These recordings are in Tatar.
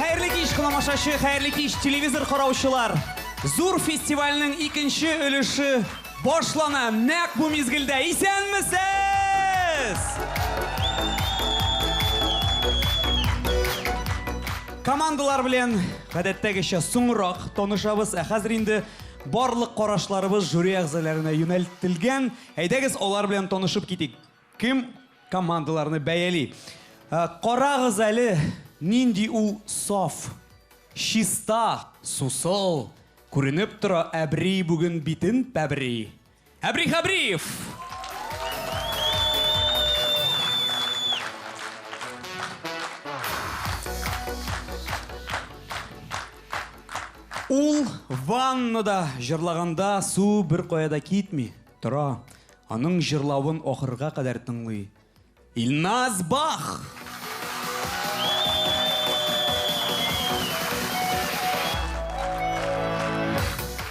Хәерле кич, кыламашачы, хәерле кич, телевизор караучылар. Зур фестивальнең икенче өлеше башлана нәкъ бу мизгелдә. Исәнмесез! Командалар белән гадәттәгечә соңрак танышабыз, ә хәзер инде барлык карашларыбыз жюри әгъзаларына юнәлтелгән. Әйдәгез, алар белән танышып китик. Кем командаларны бәяли? Ә, Карагыз әле, нинди ул саф, чиста, сусыл, күренеп тора, әбри бүген битен пәбри. Әбри Хәбриев! Ул ваннада җырлаганда су беркая да китми, тора. Аның җырлавын ахырга кадәр тыңлый Илназ Бах!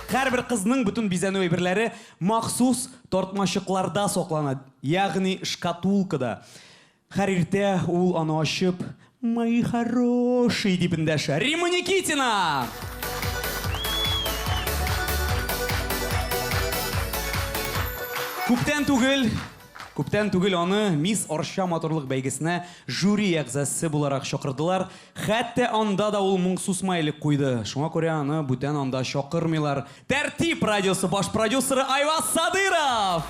Һәрбер кызның бөтен бизәнү әйберләре махсус тартмачыкларда саклана, ягъни шкатулкада. Һәр иртә ул аны ачып, Мои хорошие! дип эндәшә. Римма Никитина! Күптән түгел, күптән түгел аны Мисс Арча матурлык бәйгесенә жюри әгъзасы буларак чакырдылар. Хәтта анда да ул моңсу смайлик куйды. Шуңа күрә аны бүтән анда чакырмыйлар, Тәртип радиосы баш продюсеры Айваз Садыров!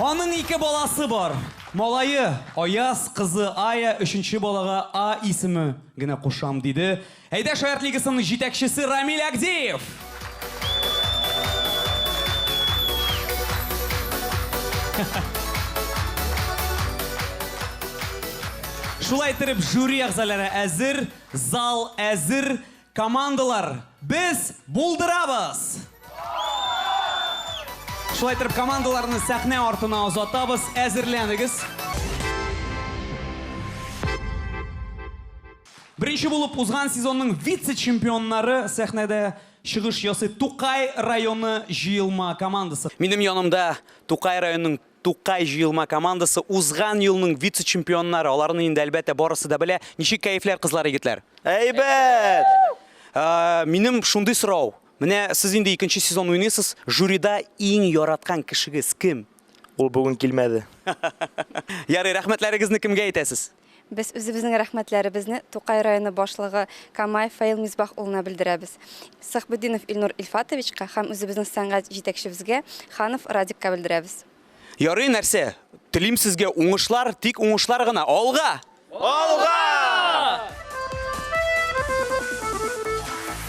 Аның ике баласы бар. Малае, Аяз, кызы, Ая, өченче балага А исеме генә кушам, диде Әйдәш арт лигасының җитәкчесе Рамил Әгдиев! Шулай иттереп, жюри әгъзалары әзер, зал әзер, командалар без булдырабыз! Шулай иттереп, командаларны сәхнә артына озатабыз, әзерләнегез! Беренче булып узган сезонның вице-чемпионнары сәхнәдә чыгыш ясый, Тукай районы җыелма командасы. Минем янымда Тукай районының Тукай җыелма командасы, узган елның вице-чемпионнары. Аларны инде, әлбәттә, барысы да белә. Ничек кәефләр, кызлар, егетләр? Әйбәт! Минем шундый сорау. Менә сез инде икенче сезон уйныйсыз, жюрида иң яраткан кешегез кем? Ул бүген килмәде. Ярый, рәхмәтләрегезне кемгә әйтәсез? Без үзебезнең рәхмәтләребезне Тукай районы башлыгы Камаев Фаил Мисбах улына белдерәбез, Сахбетдинов Илнур Илфатовичка һәм үзебезнең сәнгать җитәкчебезгә Ханов Радикка белдерәбез. Ярый нәрсә, телим сезгә уңышлар, тик уңышлар гына, алга! Алга!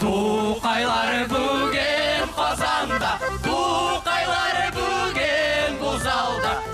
Тукайлары бүген Казанда, Тукайлары бүген бу залда.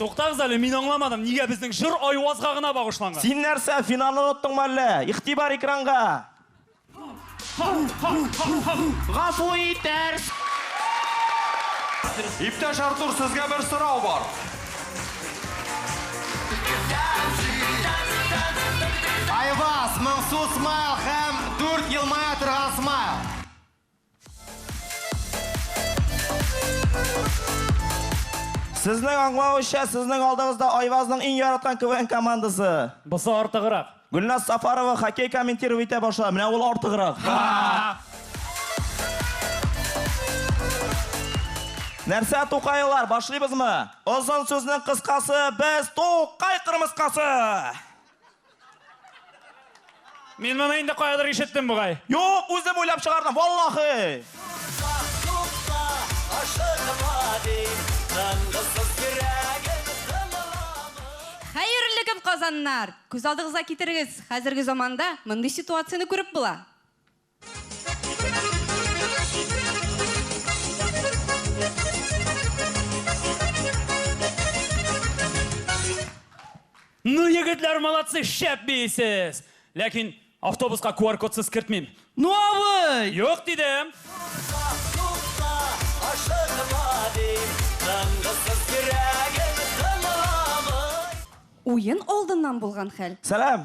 Туктагыз әле, мин аңламадым, нигә безнең җыр Айвазга гына багышланган? Син нәрсә, финалны оныттыңмы әллә? Игътибар экранга! Гафу итәрс! Иптәш Артур, сезгә бер сорау бар. Айваз, моңсу смайл һәм дүрт елмая торган смайл. Сезнең аңлавыча, сезнең алдыгызда Айвазның иң яраткан КВН командасы. Бусы артыграк. Гөлназ Сафарова хоккей комментиров итә баша. Менә ул артыграк. Нәрсә тукайлар, башлыйбызмы? Озын сүзнең кыскасы, без Тукай кырмыскасы! Мин моны инде каядыр ишеттем бугай. Юк, үзем уйлап чыгардым, валлахи! Хәерле көн, казаннар! Күз алдыгызга китерегез, хәзерге заманда мондый ситуацияне күреп була. Ну, егетләр, молодцы, шәп бейсез! Ләкин автобуска QR-кодсыз кертмим. Ну, абый! Юк дидем! Уен алдыннан булган хәл. Сәлам!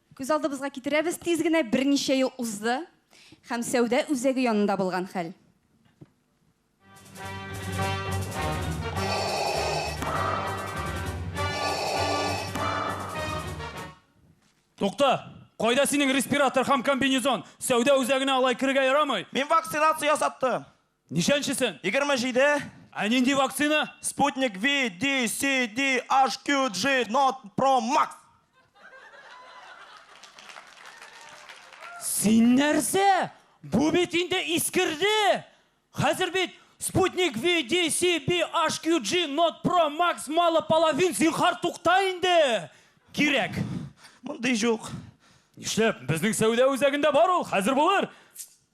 Күз алдыбызга китерәбез, тиз генә берничә ел узды һәм сәүдә үзәге янында булган хәл. Тукта! Кайда синең респиратор һәм комбинезон? Сәүдә үзәгенә алай керергә ярамый! Мин вакцинация ясаттым. Ничәнчесен? 27. Ә нинди вакцина? Sputnik V, D, C, D, H, Q, G, Not, Pro, Max. Син нәрсә? Бу бит инде искерде! Хәзер бит Sputnik V, D, C, B, H, Q, G, Not, Pro, Max, мало половин, зинхар тукта инде! Кирәк! Мондый җук. Нишләп? Безнең сәүдә үзәгендә бар ул, хәзер булыр.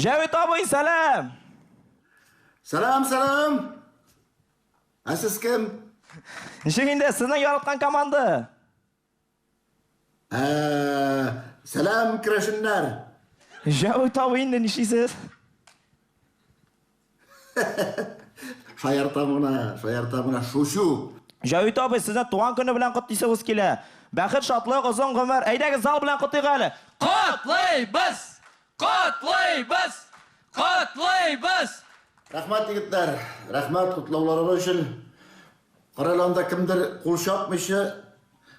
Җәвит абый, сәлам! Сәлам, сәлам! Ә сез кем? Ничек инде, сезнең яраткан команда? Ә, сәлам, керәшеннәр! Җәвит абый, инде нишлисез? Шаяртам гына, шаяртам гына, шучу. Җәвит абый, сезне туган көне белән котлыйсыбыз килә. Бәхет, шатлык, озын гомер. Әйдәгез, зал белән котыйк әле! Котлыйбыз! Котлыйбыз! Котлыйбыз! Рәхмәт, егетләр! Рәхмәт котлауларыгыз өчен! Карале, анда кемдер кул чапмыйча,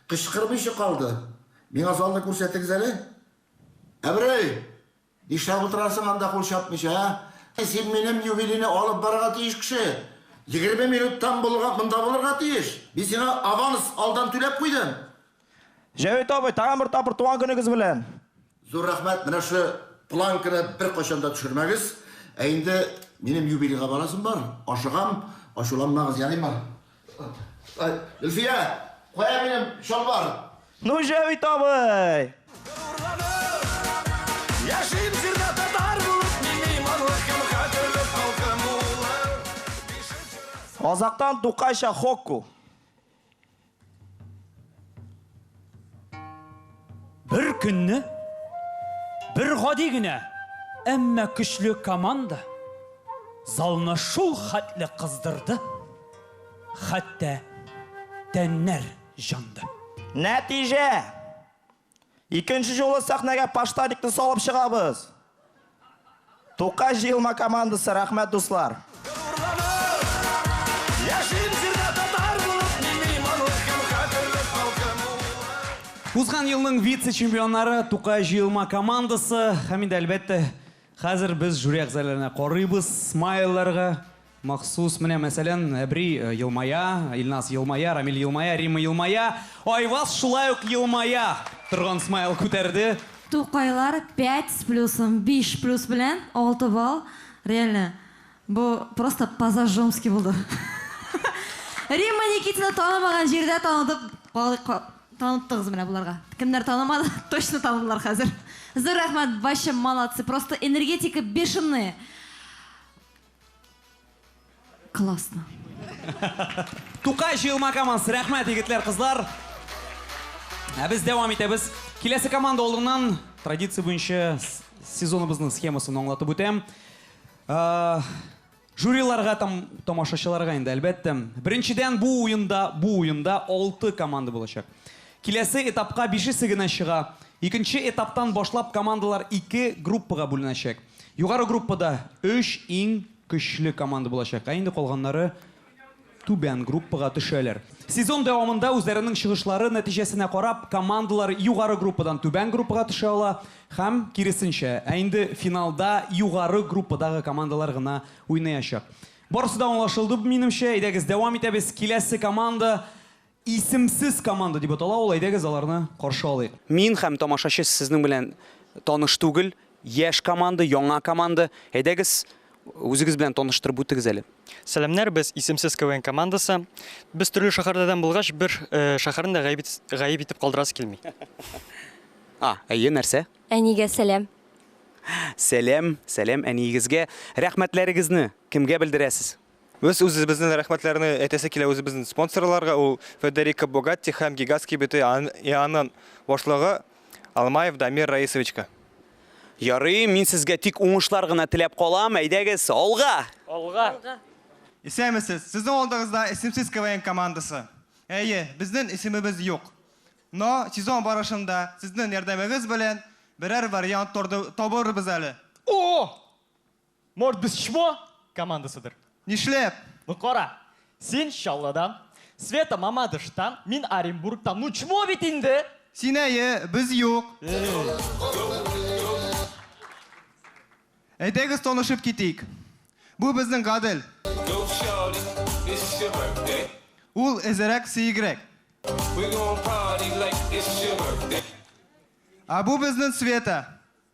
кычкырмыйча калды. Миңа залны күрсәтегез әле. Әберәй! Нишләп утырасың анда кул чапмыйча, ә? Син минем юбилейны алып барырга тиеш кеше. Егерме минуттан булга монда булырга тиеш. Мин сиңа аванс алдан түләп куйдым. Җәвит абый, тагын бер тапкыр туган көнегез белән! Зур рәхмәт, менә шушы планканы беркайчан да төшермәгез. Ә инде минем юбилейга барасым бар, ашыгам, ачуланмагыз, ярыймы? Гөлфия, кая минем чалбар? Ну, Җәвит абый! Азактан Тукайча Хокку. Бер көнне бер гади генә, әмма көчле команда залны шул хәтле кыздырды, хәтта тәннәр җанды. Нәтиҗә! Икенче юлы сәхнәгә Паштарикны салып чыгабыз. Тукай җыелма командасы рәхмәт дуслар. Узган елның вице-чемпионнары Тукай җыелма командасы һәм инде әлбәттә хәзер без жюри әгъзаларына карыйбыз, смайлларга, Махсус, менә мәсәлән, Әбри елмая, Илназ елмая, Рамил елмая, Римма елмая, Айваз шулай ук елмая! торган смайл күтәрде. Тукайлар пять с плюсом, биш плюс белән алты балл, реально, бу просто по-зажжёмски булды. Римма Никитина танымаган җирдә танытып таныттыгыз менә боларга. Кемнәр танымады, точно таныдылар хәзер. Зур рәхмәт, бачым, молодцы, просто энергетика бешеные. Классно. Тукай җыелма командасы, рәхмәт, егетләр, кызлар. Ә без дәвам итәбез. Киләсе команда алдыннан традиция буенча сезоныбызның схемасын аңлатып үтәм. Э, жюриларга там тамашачыларга инде әлбәттә. Беренчедән бу уенда, бу уенда 6 команда булачак. Киләсе этапка бишесе генә чыга. Икенче этаптан башлап командалар ике группага бүленәчәк. Югары группада өч иң көчле команда булачак, ә инде калганнары түбән группага төшәләр. Сезон дәвамында үзләренең чыгышлары нәтиҗәсенә карап, командалар югары группадан түбән группага төшә ала һәм киресенчә. Ә инде финалда югары группадагы командалар гына уйнаячак. Барысы да аңлашылды, минемчә. Әйдәгез, дәвам итәбез. Киләсе команда Исемсез команда дип атала ул, әйдәгез аларны каршы алыйк. Мин һәм тамашачы сезнең белән таныш түгел, яшь команда, яңа команда. Әйдәгез, үзегез белән таныштырып үтегез әле. Сәламнәр, без Исемсез КВН командасы. Без төрле шәһәрләрдән булгач, бер шәһәрне дә гаеп гаеп итеп калдырасы килми. А, әйе, нәрсә? Әнигә сәлам. Сәлам, сәлам әниегезгә. Рәхмәтләрегезне кемгә белдерәсез? Без үзебезнең рәхмәтләрне әйтәсе килә үзебезнең спонсорларга, ул Федерико Богатти һәм Гигаз кибете ИАНын башлыгы Алмаев Дамир Раисовичка. Ярый, мин сезгә тик уңышлар гына теләп калам, әйдәгез, алга! Алга! Алга! Исәнмесез! Сезнең алдыгызда Исемсез КВН командасы. Әйе, безнең исемебез юк. Но сезон барышында сезнең ярдәмегез белән берәр вариант табырбыз әле. О! Может без чмо командасыдыр? Нишләп? Ну кара, син Чаллыдан, Света Мамадыштан, мин Оренбургтан, ну чмо бит инде! Син әйе, без юк. Әйдәгез танышып китик. Бу безнең Гадел. Ул эзерәк, сеегрәк. Ә бу безнең Света.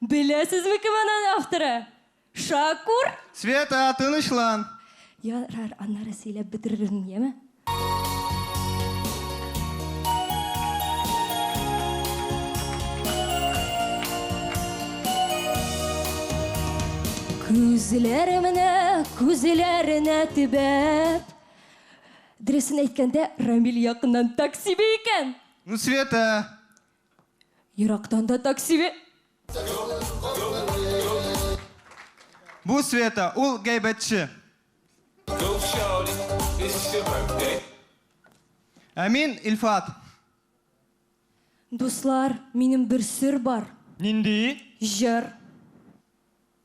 Беләсезме кем аның авторы? Шакур! Света, тынычлан! Ярар, аннары сөйләп бетерермен, яме? Күзләремне күзләренә төбәп Дөресен әйткәндә, Рамил якыннан таксиби икән! Ну, Света, Ерактан да такси бе. Бу Света, ул гәйбәтче. Ә мин Илфат. Дуслар, минем бер сер бар. Нинди? Җыр.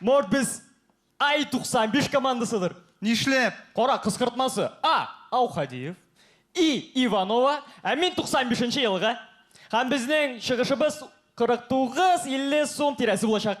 Может, без Ай-95 командасыдыр? Нишләп? Кара, кыскыртмасы. А. Аухадиев. И. Иванова. Ә мин 95-нче елга. Һәм безнең чыгышыбыз 49-50 сум тирәсе булачак.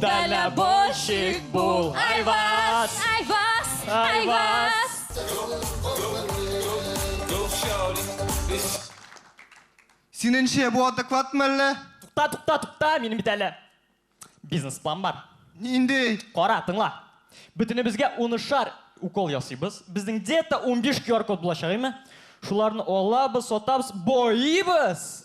Дальнобойщик бул, Айваз! Айваз! Айваз! Синеңчә, бу адекватмы әллә? Тукта, тукта, тукта, минем бит әле бизнес-план бар. Нинди? Кара, тыңла. Бөтенебезгә унышар укол ясыйбыз. Безнең где-то 15 QR-код булачак, әйме? Шуларны алабыз, сатабыз, боибыз!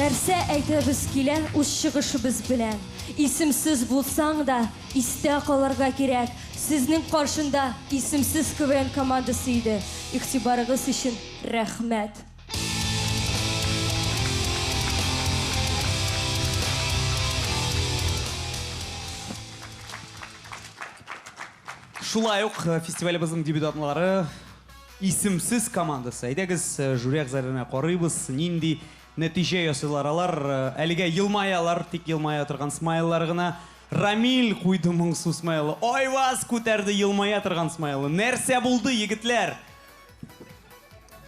Нәрсә әйтәбез килә үз чыгышыбыз белән? Исемсез булсаң да, истә калырга кирәк, сезнең каршында исемсез КВН командасы иде. Игътибарыгыз өчен рәхмәт! Шулай ук фестивалебезнең дебютантлары. Исемсез командасы. Әйдәгез, жюри әгъзаларына карыйбыз, нинди нәтиҗә ясыйлар алар. Әлегә елмаялар, тик елмая торган смайллар гына. Рамил куйды моңсу смайлы. Айваз күтәрде елмая торган смайлы. Нәрсә булды, егетләр?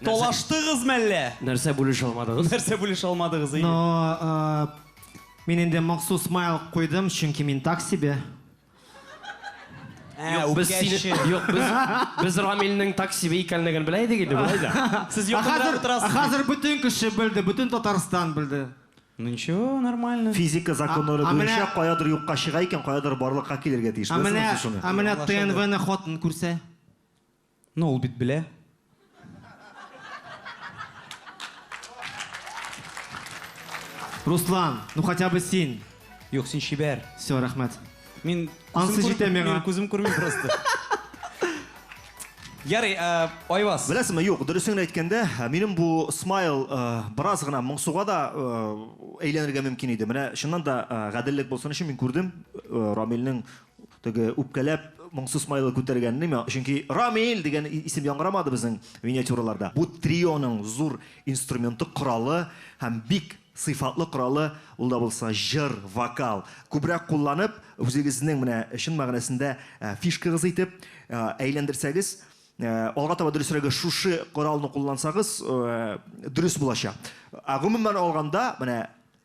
Талаштыгыз мәллә? Нәрсә бүлешә алмадыгыз? Нәрсә бүлешә алмадыгыз, әйе. Ну, мин инде моңсу смайл куйдым, чөнки мин так себе. Ә, Юк, без сине- үпкәче. Юк, без, без Рамилнең таксиби икәнлеген белә идек инде, болай да. Сез Ә якында хәзер, ә утырасыз. хәзер бөтен кеше белде, бөтен Татарстан белде. Ну ничего, нормально. Физика законнары А- а буенча менә- каядыр юкка чыга икән, каядыр барлыкка килергә тиеш. Ә Беләсезме менә, сез шуны? ә менә Аңлашылды. ТНВны хатын күрсә? Ну, ул бит белә. Руслан, ну хотя бы син. Юк, син чибәр. Все, рәхмәт. Мин Ансы җитә миңа. Мин күзем күрми просто. Ярый, э, Айвас. Беләсеңме, юк, дөресен әйткәндә, э, минем бу смайл э, бераз гына моңсуга да әйләнергә мөмкин иде. Менә чыннан да гаделлек булсын өчен мин күрдем Рамилнең Теге үпкәләп моңсу смайлы күтәргән нимә? Чөнки Рамил дигән исем яңгырамады безнең миниатюраларда. Бу трионың зур инструменты, коралы һәм бик сыйфатлы коралы, ул да булса җыр, вокал. Күбрәк кулланып, үзегезнең менә чын мәгънәсендә фишкагыз итеп әйләндерсәгез, алга таба дөресрәге шушы коралны куллансагыз дөрес булачак. Ә гомумән алганда, менә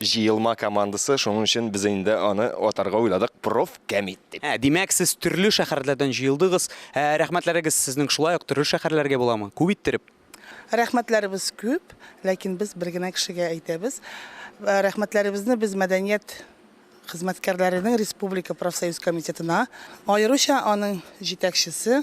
Җыелма командасы, шуның өчен без инде аны атарга уйладык Профкомит дип. Ә, димәк, сез төрле шәхәрләрдән җыелдыгыз. Ә, рәхмәтләрегез сезнең шулай ук төрле шәхәрләргә буламы? Күп иттереп? Рәхмәтләребез күп, ләкин без бер генә кешегә әйтәбез. Рәхмәтләребезне без мәдәният хезмәткәрләренең республика профсоюз комитетына, аеруча аның җитәкчесе,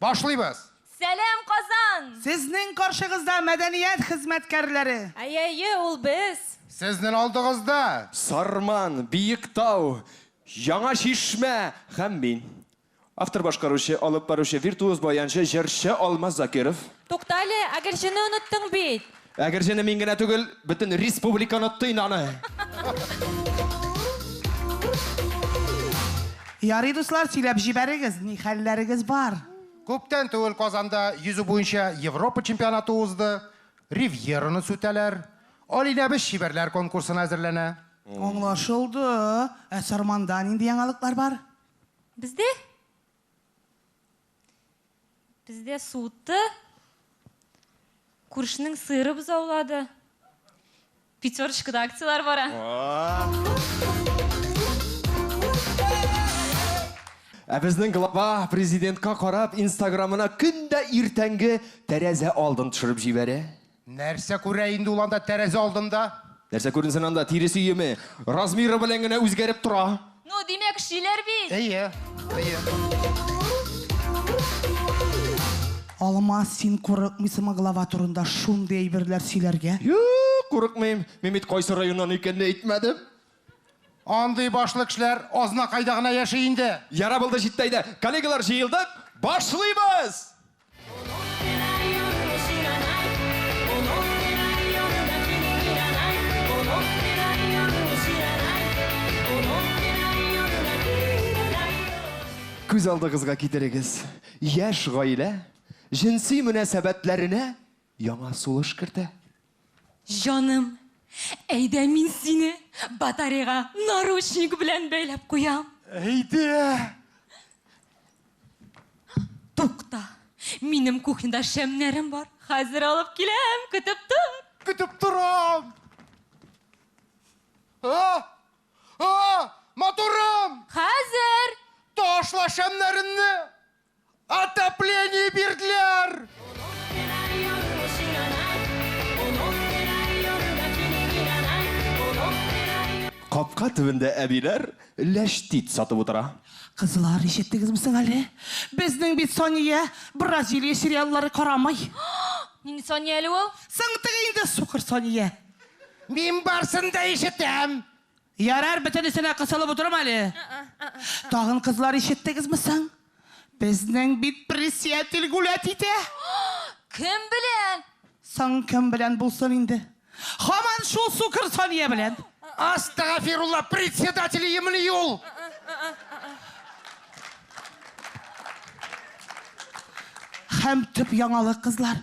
Башлыйбыз! Сәлам Казан! Сезнең каршыгызда мәдәният хезмәткәрләре. Әйәйе, ул без! Сезнен алдыгызда. Сарман, Биектау, Яңа Чишмә һәм мин. Автор башкаручы, алып баручы, виртуоз баянчы, җырчы Алмаз Закиров. Туктале, ә Гөлҗене оныттың бит! Әгерҗене мин генә түгел, бөтен республиканы тыйнаны! Ярый, дуслар, сөйләп җибәрегез, ни хәлләрегез бар? Күптән түгел Казанда йөзү буенча Европа чемпионаты узды. Ривьераны сүтәләр. Алинәбез чибәрләр конкурсына әзерләнә. Аңлашылды. Ә Сарманда нинди яңалыклар бар? Бездә? Бездә суытты, күршенең сыйры бозаулады. Пятерочкада акцияләр бара. Ә безнең глава президентка карап инстаграмына көн дә иртәнге тәрәзә алдын төшереп җибәрә. Нәрсә күрә инде ул анда тәрәзә алдында? Нәрсә күренсен анда, тирес өеме. Размеры белән генә үзгәреп тора. Ну, димәк, шиләр бит! Әйе, әйе. Алма, син курыкмыйсыңмы глава турында шундый әйберләр сөйләргә? Юк, курыкмыйм. Мин бит кайсы районнан икәнне әйтмәдем. Андый башлы кешеләр Азнакайда гына яши инде. Ярар булды, җитте, әйдә, коллегалар, җыелдык, башлыйбыз! Күз алдыгызга китерегез, яшь гаилә җенси мөнәсәбәтләренә яңа сулыш кертә. Җаным, әйдә мин сине батареяга наручник белән бәйләп куям. Әйдә! Тукта, минем кухняда шәмнәрем бар, хәзер алып киләм, көтеп тор. Көтеп торам! А! А! Матурым! Хәзер! Ташла шәмнәренне! Отопление бирделәр! Капка төбендә әбиләр ләчтит сатып утыра. Кызлар, ишеттегезме соң әле? Безнең бит Сания Бразилия сериаллары карамый. Нинди Сания әле ул? Соң теге инде сукыр Сания. Мин барсын да ишетәм. Ярар, бөтенесенә кысылып утырам әле. Тагын кызлар ишеттегезме соң? Безнең бит пресиятель гулять итә. Кем белән? Соң кем белән булсын инде? Хаман шул сукыр Сания белән. Астагафирулла, председатель имени ул. Хәм төп яңалык, кызлар.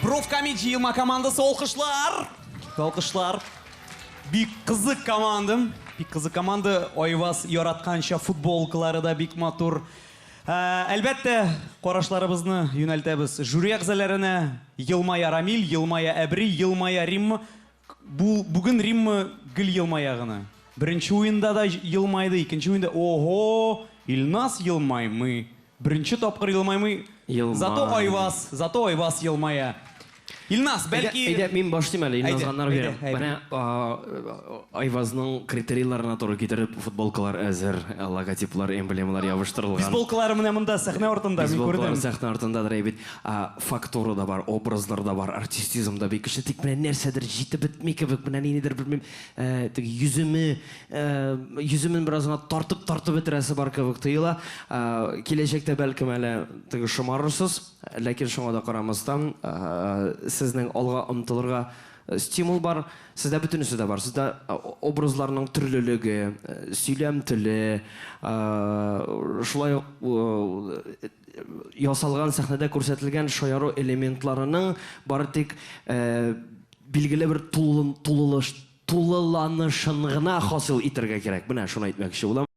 Профкомик җыелма командасы алкышлар! Алкышлар! Бик кызык командам. Бик кызык команда. Айваз яратканча футболкалары да бик матур. Ә, Әлбәттә, карашларыбызны юнәлтәбез жюри әгъзаларына. Елмая Рамил, елмая Әбри, елмая Римма. Бу бүген Римма гел елмая гына. Беренче уенда да елмайды, икенче уенда, ого, Илназ елмаймый, беренче тапкыр елмаймый, зато Айваз, зато Айваз елмая. Илназ, бәлки. Әйдә, мин башлыйм әле, Илназга ынар бирәм. Менә Айвазның критерийларына туры китереп, футболкалар әзер, логотиплар, эмблемалар ябыштырылган. Бейсболкалары менә монда, сәхнә артында, мин күрдем. Бейсболкалары сәхнә артындадыр әй бит. Ә фактура да бар, образлар да бар, артистизм да бик көчле, тик менә нәрсәдер җитеп бетми кебек, менә ниндидер, белмим, теге йөземе, йөземен бераз гына тартып-тартып бетерәсе бар кебек тоела. Киләчәктә, бәлкем, әле теге шомарырсыз, ләкин шуңа да карамастан, сезнең алга омтылырга стимул бар. Сездә бөтенесе дә бар. Сездә образларның төрлелеге, сөйләм теле, шулай ук ясалган сәхнәдә күрсәтелгән шаяру элементларының бары тик билгеле бер тулылыш тулыланышын гына хасил итәргә кирәк. Менә шуны әйтмәкче булам.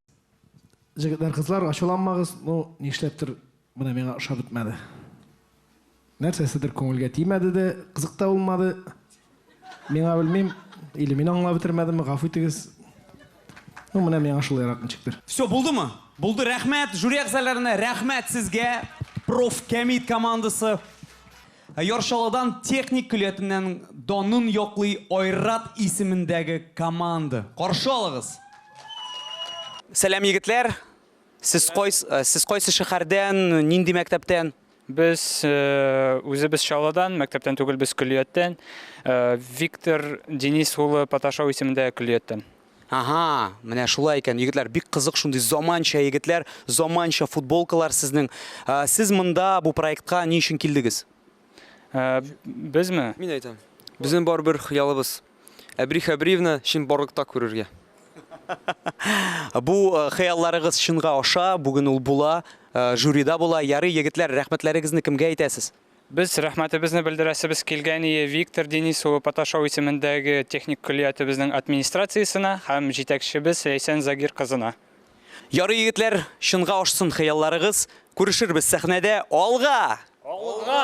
Җегетләр, кызлар, ачуланмагыз, ну, нишләптер, менә миңа ошап бетмәде. Нәрсәседер күңелгә тимәде дә, кызык та булмады. Миңа белмим, или мин аңлап бетермәдемме, гафу итегез. Ну, менә миңа шулайрак ничектер. Все, булдымы? Булды, рәхмәт, жюри әгъзаләренә рәхмәт сезгә, проф. Кәмит командасы. Яр Чаллыдан техник көллиятеннән данын яклый Айрат исемендәге команда. Каршы алыгыз! Сәлам, егетләр! Сез кайс, э, сез кайсы шәһәрдән, нинди мәктәптән? Без э, үзебез Чаллыдан, мәктәптән түгел, без көллияттән. Э, Виктор Денис улы Паташау исемендә көллияттән. Ага, менә шулай икән, егетләр, бик кызык шундый заманча егетләр, заманча футболкалар сезнең. Э, Сез монда бу проектка ни өчен килдегез? Э, Безме? Мин әйтәм. Безнең барыбер хыялыбыз. Әбри Хәбриевна чынбарлыкта күрергә. Бу хыялларыгыз чынга аша, бүген ул була, жюрида була. Ярый, егетләр, рәхмәтләрегезне кемгә әйтәсез? Без рәхмәтебезне белдерәсебез килгәние Виктор Денис улы Паташов исемендәге техник көллиятебезнең администрациясенә һәм җитәкчебез Ләйсән Загир кызына. Ярый, егетләр, чынга ашсын хыялларыгыз. Күрешербез сәхнәдә. Алга! Алга!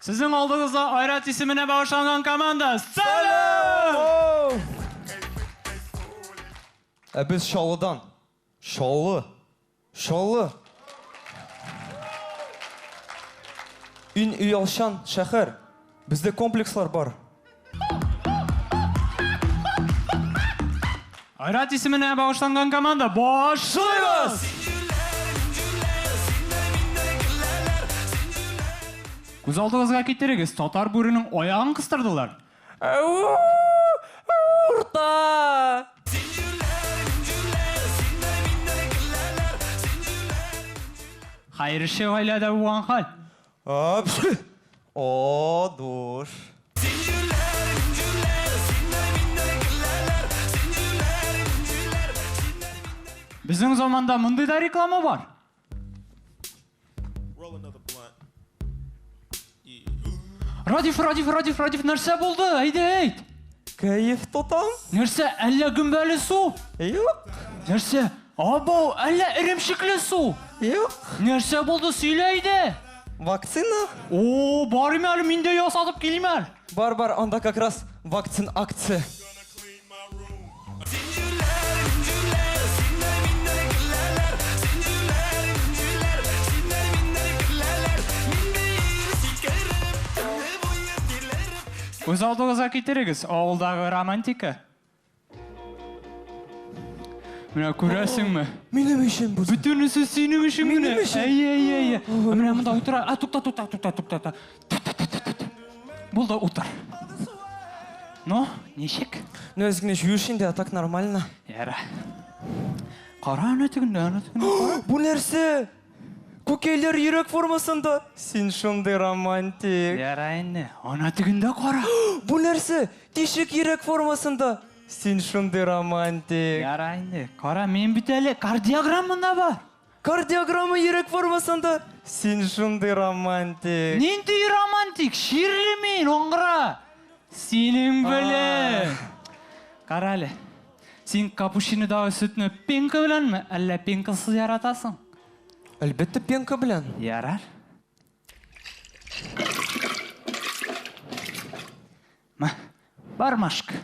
Сезнең алдыгызда Айрат исеменә багышланган команда! Салют! Ә без Чаллыдан. Чаллы! Чаллы! Ин өйалчан шәхәр. Бездә комплекслар бар. Айрат исеменә багышланган команда башлыйбыз! Күз алдыгызга китерегез, татар бүренең аягын кыстырдылар. Урта! Хәерче гаиләдә булган хәл. О, душ. Безнең заманда мондый да реклама бар. Радиф, Радиф, Радиф, Радиф, нәрсә булды? Әйдә, әйт. Кәеф тотам. Нәрсә, әллә гөмбәле су? Юк. Нәрсә? Абау, әллә эремчекле су? Юк. Нәрсә булды, сөйлә иде. Вакцина? О, барыйм әле, мин дә ясатып килим әле. Бар, бар, анда как раз вакцин акция. Үз алдыгызга китерегез, авылдагы романтика. Менә күрәсеңме? Минем өчен бу. Бөтенесе синең өчен генә. Минем өчен. Әйе, әйе, әйе. Менә монда утыра. А, тукта, тукта, тукта, тукта, тукта. Булды, утыр. Ну, ничек? Ну, аз генә жуешь инде, а так нормально. Яра. Кара аны тегендә, аны тегендә. Бу нәрсә? Күкәйләр йөрәк формасында! Син шундый романтик! Ярай инде, ана тегендә кара! Бу нәрсә? Тишек йөрәк формасында! Син шундый романтик! Ярай инде, кара, минем бит әле кардиограмма да бар! Кардиограмма йөрәк формасында! Син шундый романтик! Нинди романтик? Чирле мин, аңгыра! Синең белән! Кара әле. Син капучинодагы сөтне пенка беләнме, әллә пенкасыз яратасың? Әлбәттә, пенка белән. Ярар. Мә, бар машка.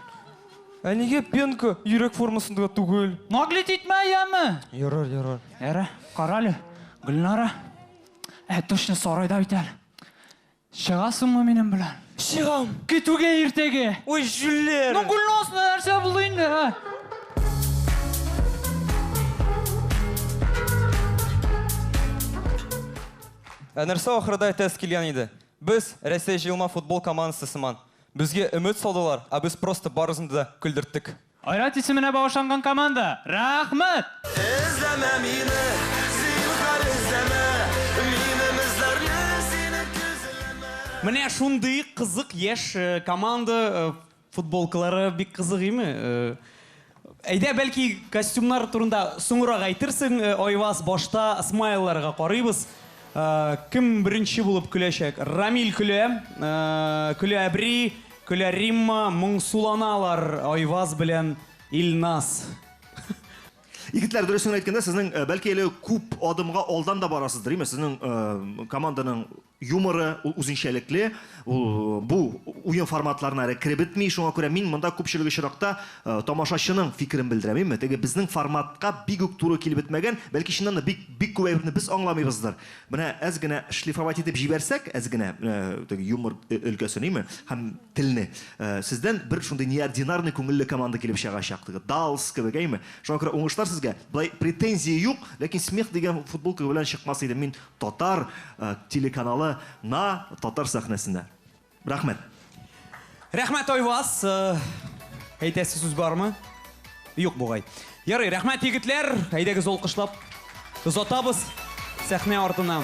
Ә нигә пенка йөрәк формасында түгел? Наглеть итмә, яме! Ярар, ярар. Ярар, кара әле, Гөлнара. Ә, точно сарайда бит әле. Чыгасыңмы минем белән? Чыгам! Көтүгә иртәгә! Уй, җүлләр! Ну, Гөлназ, ну нәрсә булды инде, ә? Ә нәрсә ахырда әйтәсе килгән иде? Без, Рәсәй җыелма футбол командасы сыман, безгә өмет салдылар, ә без просто барысын да көлдерттек. Айрат исеменә багышланган команда, рәхмәт! Эзләмә мине, зинһар эзләмә, Минем эзләрне синең көзләмә. Менә шундый кызык яшь команда футболкалары бик кызык име? Әйдә, бәлки костюмнар турында соңрак әйтерсең, Айваз, башта смайлларга карыйбыз. Кем беренче булып көләчәк? Рамил көлә, көлә әбри. Көлә Римма, моңсуланалар Айваз белән Илназ. Егетләр, дөресен генә әйткәндә, сезнең, бәлки әле күп адымга алдан да барасыздыр, име? Сезнең команданың юморы, ул үзенчәлекле, ул бу уен форматларына әле кереп бетми, шуңа күрә мин монда күпчелек очракта тамашачының фикерен белдерәм, име? Теге безнең форматка бик үк туры килеп бетмәгән, бәлки чыннан да бик, бик күп әйберне без аңламыйбыздыр, Менә әз генә шлифовать итеп җибәрсәк, әз генә теге юмор өлкәсен, име, һәм телне, сездән бер шундый неординарный күңелле команда килеп чыгачак, теге Даллс кебек, әйме. Шуңа күрә уңышлар сезгә. Болай претензия юк, ләкин смех дигән футболка белән чыкмас идем мин татар телеканалы на татар сәхнәсенә. Рәхмәт. Рәхмәт, Айваз! Әйтәсе сүз бармы? Юк бугай. Ярый, рәхмәт, егетләр! Әйдәгез алкышлап озатабыз сәхнә артына.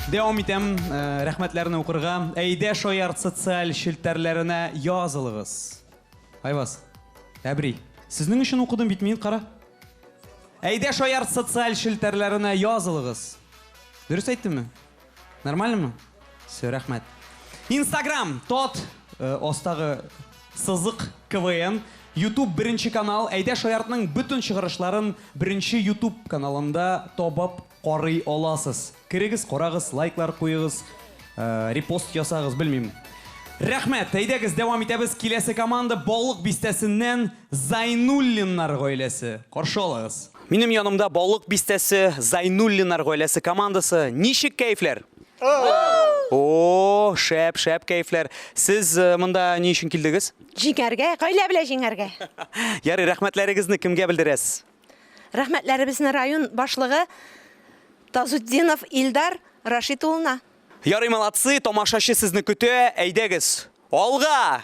Дәвам итәм рәхмәтләрне укырга. Әйдә шаярт социаль челтәрләренә язылыгыз. Айваз, әбри, сезнең өчен укыдым бит мин, кара. Әйдә шаярт социаль челтәрләренә язылыгыз. Дөрес әйттемме? Нормальныймы? Все, рәхмәт. Инстаграм, тот, э, астагы сызык КВН, Ютуб беренче канал, әйдә шаяртның бөтен чыгарышларын беренче Ютуб каналында табып карый аласыз. Керегез, карагыз, лайклар куегыз, э, репост ясагыз, белмим. Рәхмәт, әйдәгез, дәвам итәбез. Киләсе команда Балык бистәсеннән Зайнуллиннар гаиләсе. Каршы алыгыз. Минем янымда Балык бистәсе Зайнуллинар гаиләсе командасы. Ничек кәефләр? О, шәп, шәп кәефләр. Сез э, монда ни өчен килдегез? Җиңәргә, гаилә белән җиңәргә. Ярый, рәхмәтләрегезне кемгә белдерәсез? Рәхмәтләребезне район башлыгы Тазутдинов Илдар Рашид улына. Ярый, молодцы, тамашачы сезне көтә. Әйдәгез, алга!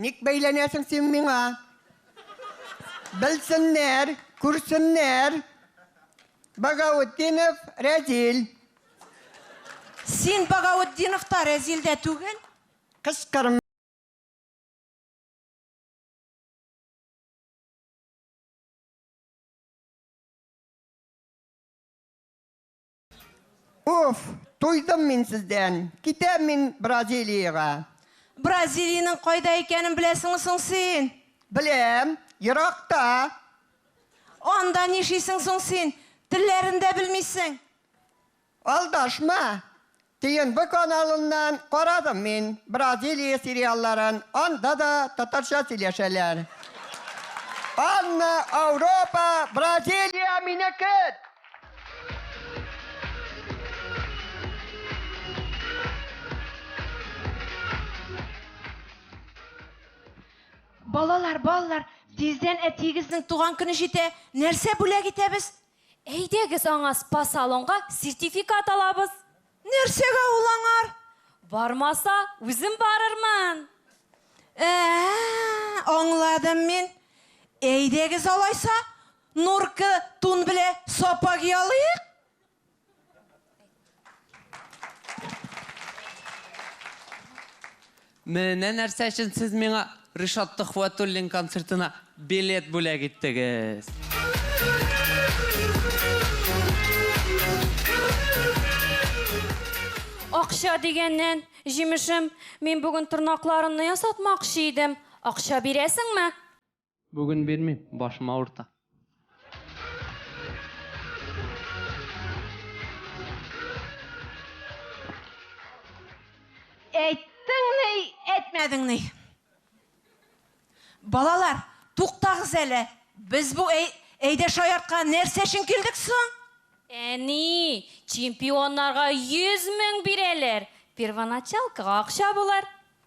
Ник бәйләнәсең син миңа? Белсеннәр, күрсеннәр! Багаутдинов Рәзил. Син Багаутдинов та, Рәзил дә түгел? Кычкырма. Уф, туйдым мин сездән. Китәм мин Бразилиягә. Бразилиянең кайда икәнен беләсеңме соң син? Беләм, еракта. Анда нишисең соң син? Телләрен дә белмисең. Алдашма. ТНВ каналыннан карадым мин Бразилия сериалларын, анда да татарча сөйләшәләр. Анна, Ауропа, Бразилия минекет! Балалар, балалар, тиздән әтиегезнең туган көне җитә, нәрсә бүләк итәбез? Әйдәгез аңа спа-салонга сертификат алабыз. Нәрсәгә ул аңар? Бармаса, үзем барырмын. Ә-ә, аңладым мин. Әйдәгез алайса, Нурка тун белә сапа ки алыйк. Менә нәрсә өчен сез миңа Ришат Төхвәтуллин концертына билет бүләк иттегез. Акча дигәннән, җимешем, мин бүген тырнакларымны ясатмакчы идем. Акча бирәсеңме? Бүген бирмим, башым авырта. Әйттең ни, әйтмәдең ни? Балалар, туктагыз әле. Без бу әй, әйдә шаяртка нәрсә өчен килдек соң? Әни, чемпионнарга 100 мең бирәләр. Первоначалкага акча булыр.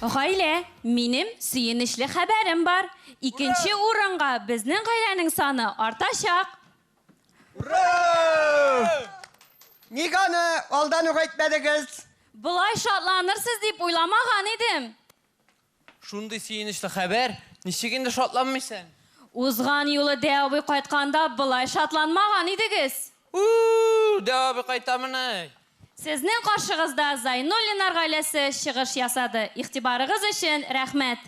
Гаилә, минем сөенечле хәбәрем бар. Икенче урынга безнең гаиләнең саны артачак. Ник аны алдан ук әйтмәдегез? Болай шатланырсыз дип уйламаган идем. Шундый сөенечле хәбәр, ничек инде шатланмыйсың? Узган юлы Дә абый кайтканда болай шатланмаган идегез. У-у-у, Дә абый кайтамыни? Сезнең каршыгызда Зайнуллиннар гаиләсе чыгыш ясады. Игътибарыгыз өчен рәхмәт!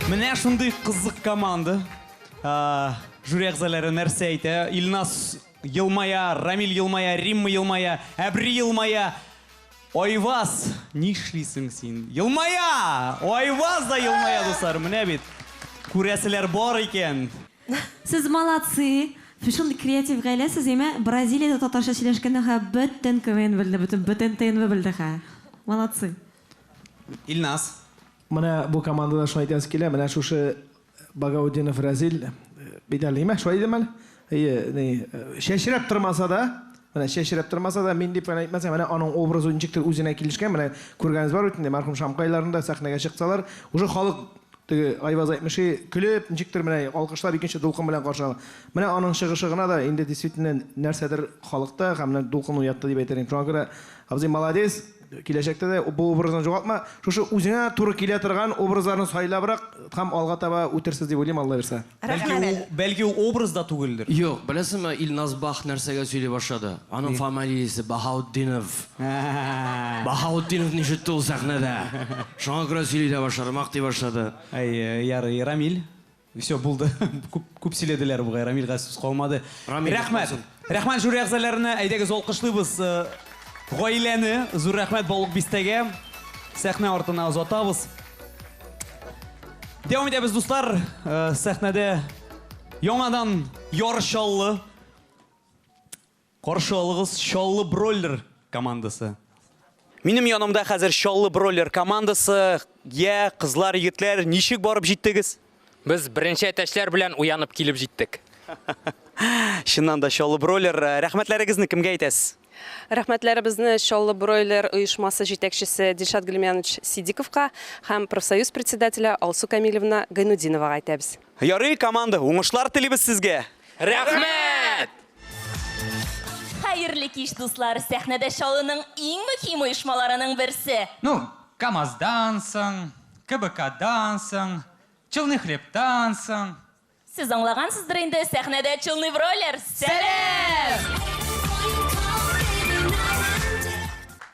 Менә шундый кызык команда. Жюри әгъзалары нәрсә әйтә? Илназ елмая, Рамил елмая, Римма елмая, Әбри елмая. Айваз, нишлисең син? Елмая! Айваз да елмая, дуслар, менә бит. Күрәселәр бар икән. Сез молодцы! Шундый креатив гаилә сез, яме Бразилиядә татарча сөйләшкәндә хә бөтен КВН белде, бөтен бөтен ТНВ белде хә. Молодцы! Илназ. Менә бу командада шуны әйтәсе килә, менә шушы Багаутдинов Разил бит әле имә, шулай идеме әле? Әйе, ни, чәчрәп тормаса да, менә чәчрәп тормаса да, мин дип кенә әйтмәсәм, менә аның образы ничектер үзенә килешкән, менә күргәнегез бар бит инде, мәрхүм Шамкайларны да сәхнәгә чыксалар, уже халык теге Айваз әйтмешли, көлеп, ничектер менә алкышлап икенче дулкын белән каршы ала. Менә аның чыгышы гына да инде действительно нәрсәдер халыкта һәм менә дулкын уятты дип әйтер идем. Шуңа күрә, абзый, молодец! Киләчәктә дә бу образны югалтма, шушы үзеңә туры килә торган образларны сайлабрак һәм алга таба үтерсез дип уйлыйм, Алла бирса. Бәлки ул, бәлки ул образ да түгелдер? Юк, беләсеңме, Илназ Бах нәрсәгә сөйли башлады? Аның фамалиясе Баһаутдинов. Баһаутдиновны ишетте ул сәхнәдә. Шуңа күрә сөйли дә башлады, мактый башлады. Әйе, ярый, Рамил? Все, булды. Күп, күп сөйләделәр бугай, Рамилгә сүз калмады. Рамил, Рәхмәт. Рамил. Рәхмәт жюри әгъзаларына. Әйдәгез алкышлыйбыз э, гаиләне. Зур рәхмәт Балык бистәгә. Сәхнә артына озатабыз. Дәвам итәбез, дуслар. Э, Сәхнәдә яңадан ярыш чаллы. Каршы алыгыз Чаллы Бройлер командасы. Минем янымда хәзер Чаллы Бройлер командасы. Йә, кызлар, егетләр, ничек барып җиттегез? Без беренче әтәчләр белән уянып килеп җиттек. Чыннан да Чаллы Бройлер, рәхмәтләрегезне кемгә әйтәсез? Рәхмәтләребезне Чаллы Бройлер оешмасы җитәкчесе Дилшат Гөлмянович Сидиковка һәм профсоюз председателе Алсу Камилевна Гайнутдиновага әйтәбез. Ярый, команда, уңышлар телибез сезгә! Рәхмәт! Хәерле кич, дуслар! Сәхнәдә Чаллының иң мөһим оешмаларының берсе. Ну, КАМАЗдан соң, КБКдан соң, Челны хлебтан соң. Сез аңлагансыздыр инде, сәхнәдә Челны бройлер! Сәлам!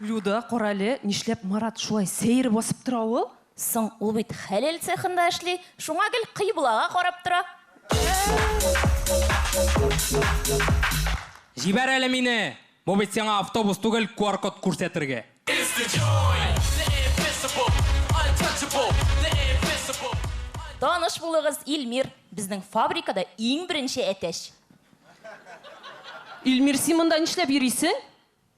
Люда, карале, нишләп Марат шулай сәер басып тора ул? Соң, ул бит хәләл цехында эшли, шуңа гел кыйблага карап тора. Җибәр әле мине! Бу бит сиңа автобус түгел, QR-код күрсәтергә. Таныш булыгыз, Илмир, безнең фабрикада иң беренче әтәч. Илмир, син монда нишләп йөрисең?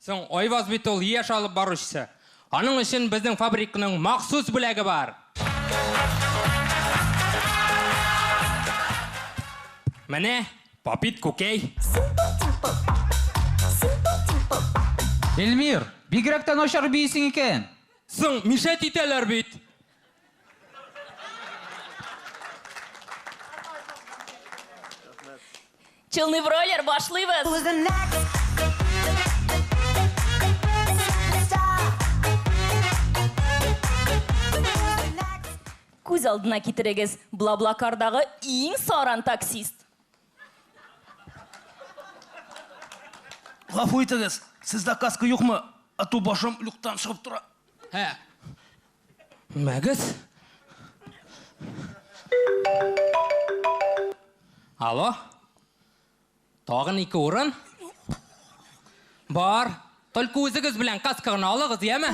Соң, Айваз бит ул яшь алып баручысы. Аның өчен безнең фабрикның махсус бүләге бар. Менә, Попит күкәй. Эльмир, бигрәк тә начар биисең икән. Соң, мишәт итәләр бит. Челный бройлер башлыйбыз. Күз алдына китерегез, Блаблакардагы иң саран таксист. Гафу итегез, сездә каска юкмы? Ату башым люктан чыгып тора. Һә. Мәгез. Алло. Тагын ике урын. Бар. Только үзегез белән каска гына алыгыз, яме?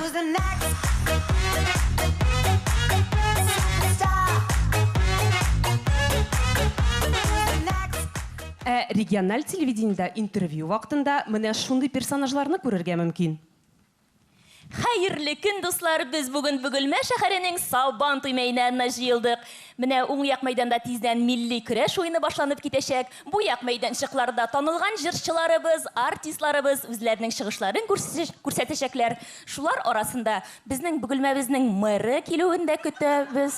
Ә региональ телевидениедә интервью вакытында менә шундый персонажларны күрергә мөмкин. Хәерле көн, дуслар! Без бүген Бөгелмә шәһәренең Сабан туй мәйданына җыелдык. Менә уң як мәйданда тиздән милли көрәш уены башланып китәчәк. Бу як мәйданчыкларда танылган җырчыларыбыз, артистларыбыз үзләренең чыгышларын күрсәтәчәкләр. Шулар арасында безнең Бөгелмәбезнең мэры килүен дә көтәбез.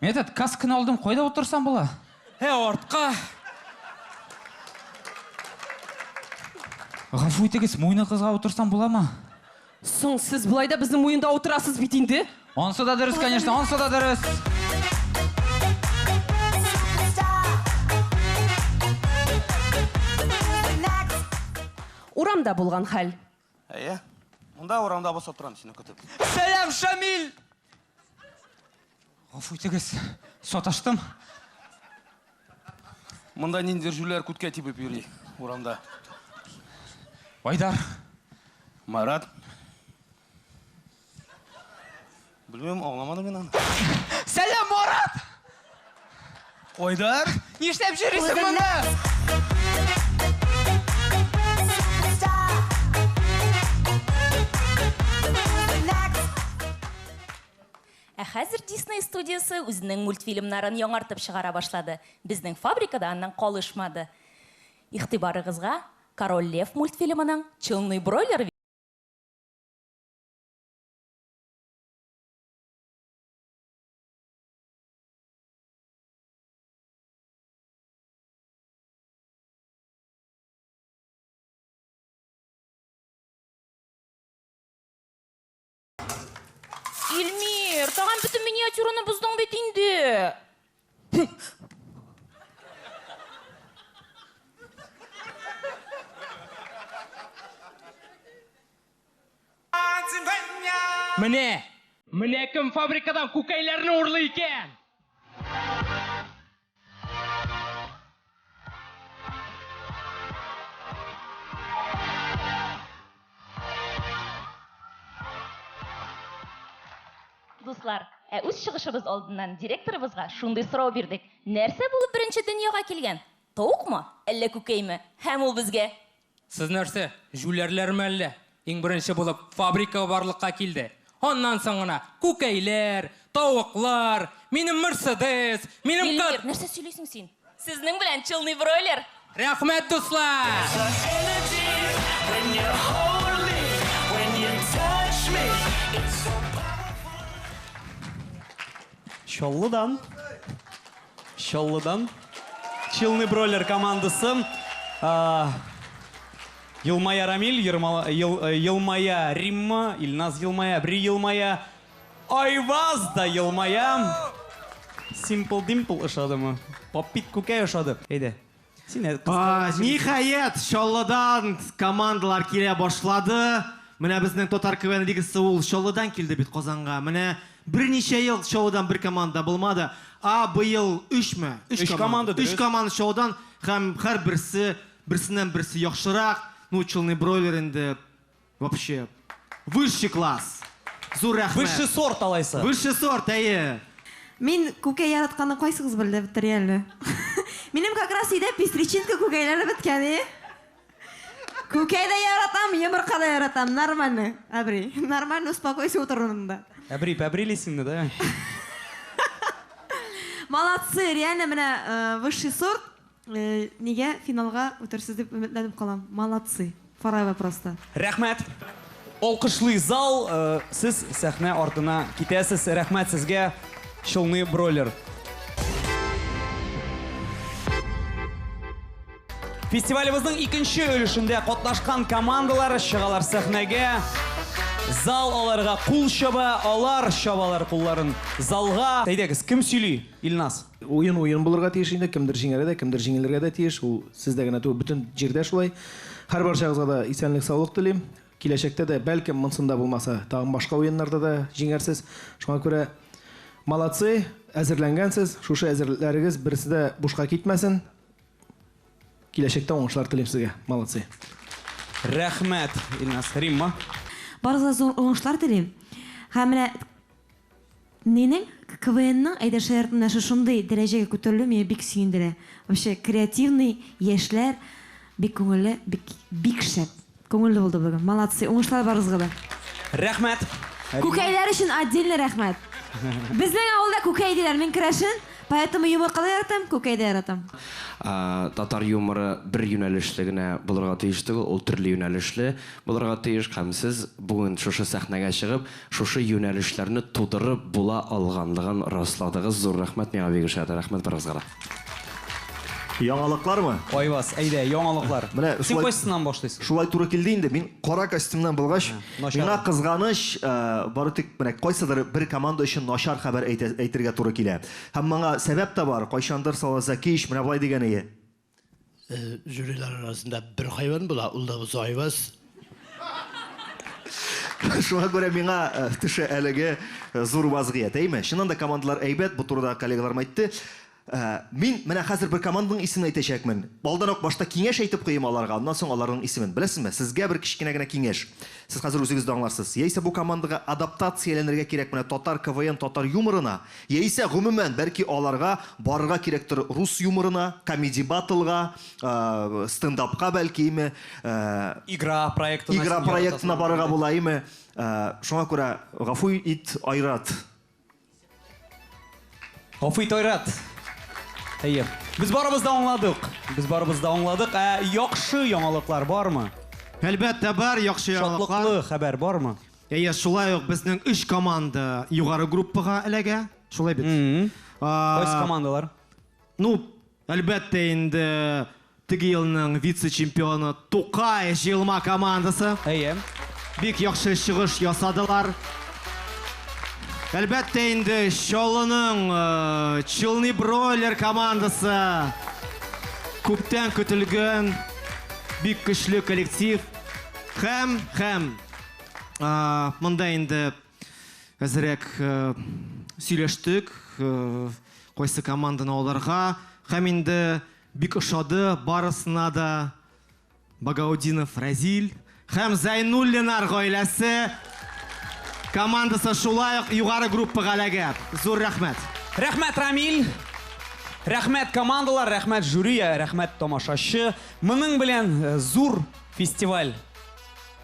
Мин этот каскны алдым, кайда утырсам була? Һә, артка. Гафу итегез, муйны кызга утырсам буламы? Соң сез болай да безнең муенда утырасыз бит инде. Ансы да дөрес, конечно, ансы да дөрес. Урамда булган хәл. Әйе. Монда урамда басып торам сине көтеп. Сәлам, Шамил! Гафу итегез, саташтым. Монда ниндидер җүләр күткә тибеп йөри урамда. Айдар. Марат. Белмим, аңламадым мин аны. Сәлам, Марат! Айдар, нишләп җөрисең моны? Ә хәзер Disney студиясе үзенең мультфильмнарын яңартып чыгара башлады. Безнең фабрика да аннан калышмады. Игътибарыгызга Король Лев мультфильмының Челный бройлер Ильмир, тагын бөтен миниатюраны боздың бит инде. Менә! Менә кем фабрикадан күкәйләрне урлый икән! Дуслар, ә үз чыгышыбыз алдыннан директорыбызга шундый сорау бирдек, Нәрсә булып беренче дөньяга килгән, тавыкмы, әллә күкәйме? Һәм ул безгә, Сез нәрсә, җүләрләрме әллә? Иң беренче булып фабрика барлыкка килде. Аннан соң гына күкәйләр, тавыклар, минем Мерседес, минем кар... Эльмир, нәрсә сөйлисең син? Сезнең белән челный бройлер! Рәхмәт, дуслар! Чаллыдан, Чаллыдан, Челны Бройлер командасы. Елмая Рамиль, Елмая Римма, Илназ Елмая, Бри Елмая, Айваз да Елмая. Simple Dimple ошадымы? Попит күкәй ошады. Әйдә, Ниһаять, Чаллыдан командалар килә башлады. Менә безнең Татар КВН лигасы ул Чаллыдан килде бит Казанга. Менә берничә ел Чаллыдан бер команда да булмады. Ә быел өчме? Өч команда, дөрес. Өч команда Чаллыдан һәм һәрберсе берсеннән-берсе яхшырак. Ну, Челны Бройлер инде Вообще высший класс! Зур рәхмәт! Высший сорт алайса. Высший сорт, әйе. Мин күкәй яратканны кайсыгыз белде, бетери әле. Минем как раз өйдә пестричинка күкәйләре беткән, и. Күкәй дә яратам, йомырка да яратам, нормальный, әбри. Нормальный успокойся утырунында. Әбри, пәбрилисеңме, да? Молодцы, реально менә высший сорт. Нигә финалга үтерсез дип өметләнеп калам. Молодцы. Фарайва просто. Рәхмәт! Алкышлый зал, сез сәхнә артына китәсез. Рәхмәт сезгә, Челны Бройлер. Фестивалебезнең икенче өлешендә катнашкан командалар чыгалар сәхнәгә. Зал аларга кул чаба, алар чабалар кулларын залга. Әйдәгез, кем сөйли? Илназ. Уен уен булырга тиеш инде, кемдер җиңәргә дә, кемдер җиңелергә дә тиеш. Ул сездә генә түгел, бөтен җирдә шулай. Һәрбарчагызга да исәнлек-саулык телим. Киләчәктә дә, бәлкем, монсында булмаса, тагын башка уеннарда да җиңәрсез. Шуңа күрә молодцы, әзерләнгәнсез. Шушы әзерлекләрегез берсе дә бушка китмәсен. Киләчәктә уңышлар телим сезгә. Молодцы. Рәхмәт, Илназ. Римма. Барыгызга зур уңышлар телим. Һәм менә Минем КВНның Әйдә шаяртма нәше шундый дәрәҗәгә күтәрелүе мине бик сөендерә. Вообще креативный яшьләр, бик күңелле, бик бик шәп. Күңелле булды бүген. Молодцы, уңышлар барыгызга да. Рәхмәт! Күкәйләр өчен отдельный рәхмәт! Безнең авылда күкәй диләр, мин керәшен, поэтому юмырка да яратам, күкәй дә яратам. Татар юморы бер юнәлешле генә булырга тиеш түгел, ул төрле юнәлешле булырга тиеш һәм сез бүген шушы сәхнәгә чыгып, Шушы юнәлешләрне тудырып була алганлыгын расладыгыз, зур рәхмәт миңа бик ошады, рәхмәт барыгызга да. Яңалыклармы? Айваз, әйдә, яңалыклар. Менә Син шулай, кайсысыннан башлыйсың? шулай туры килде инде. Мин кара костюмнан булгач, Начар. миңа кызганыч, э, бары тик менә кайсыдыр бер команда өчен начар хәбәр әйтә, әйтергә туры килә. Һәм моңа сәбәп тә бар, кайчандыр Салазакич менә болай дигән иде, Жюрилар арасында бер хайван була, ул да бозау айваз. Шуңа күрә миңа э, төшә әлеге э, зур вазгыять, әйме? Чыннан да командалар әйбәт, бу турыда коллегаларым әйтте. Э, мин менә хәзер бер команданың исемен әйтәчәкмен. Алдан ук башта киңәш әйтеп куйым аларга, аннан соң аларның исемен. Беләсезме, сезгә бер кечкенә генә киңәш. Сез хәзер үзегез дә аңларсыз. Яисә бу командага адаптацияләнергә кирәк менә татар КВН, татар юморына. Яисә, гомумән, бәлки аларга барырга кирәктер рус юморына, комеди-батлга, стендапка бәлкиме, Игра проектына син игра яратасың проектына бит барырга инде. булаиме, шуңа күрә гафу ит, Айрат. Гафу ит, Айрат. Әйе. Без барыбыз да аңладык. Без барыбыз да аңладык. Ә яхшы яңалыклар бармы? Әлбәттә бар яхшы яңалыклар. Шатлыклы хәбәр бармы? Әйе, шулай ук безнең өч команда югары группага эләгә. Шулай бит? Кайсы командалар? Ну, әлбәттә инде теге елның вице-чемпионы Тукай җыелма командасы. Әйе. Бик яхшы чыгыш ясадылар. Әлбәттә инде Чаллының э, Челны Бройлер командасы күптән көтелгән бик көчле коллектив һәм һәм А, монда инде әзерәк э, сөйләштек, э, кайсы команданы аларга. Һәм инде бик ошады барысына да Багаудинов Разил һәм Зайнуллинар гаиләсе командасы шулай ук югары группага эләгә. Зур рәхмәт. Рәхмәт, Рамиль! Рәхмәт командалар, рәхмәт жюри, рәхмәт тамашачы. Моның белән э, зур фестиваль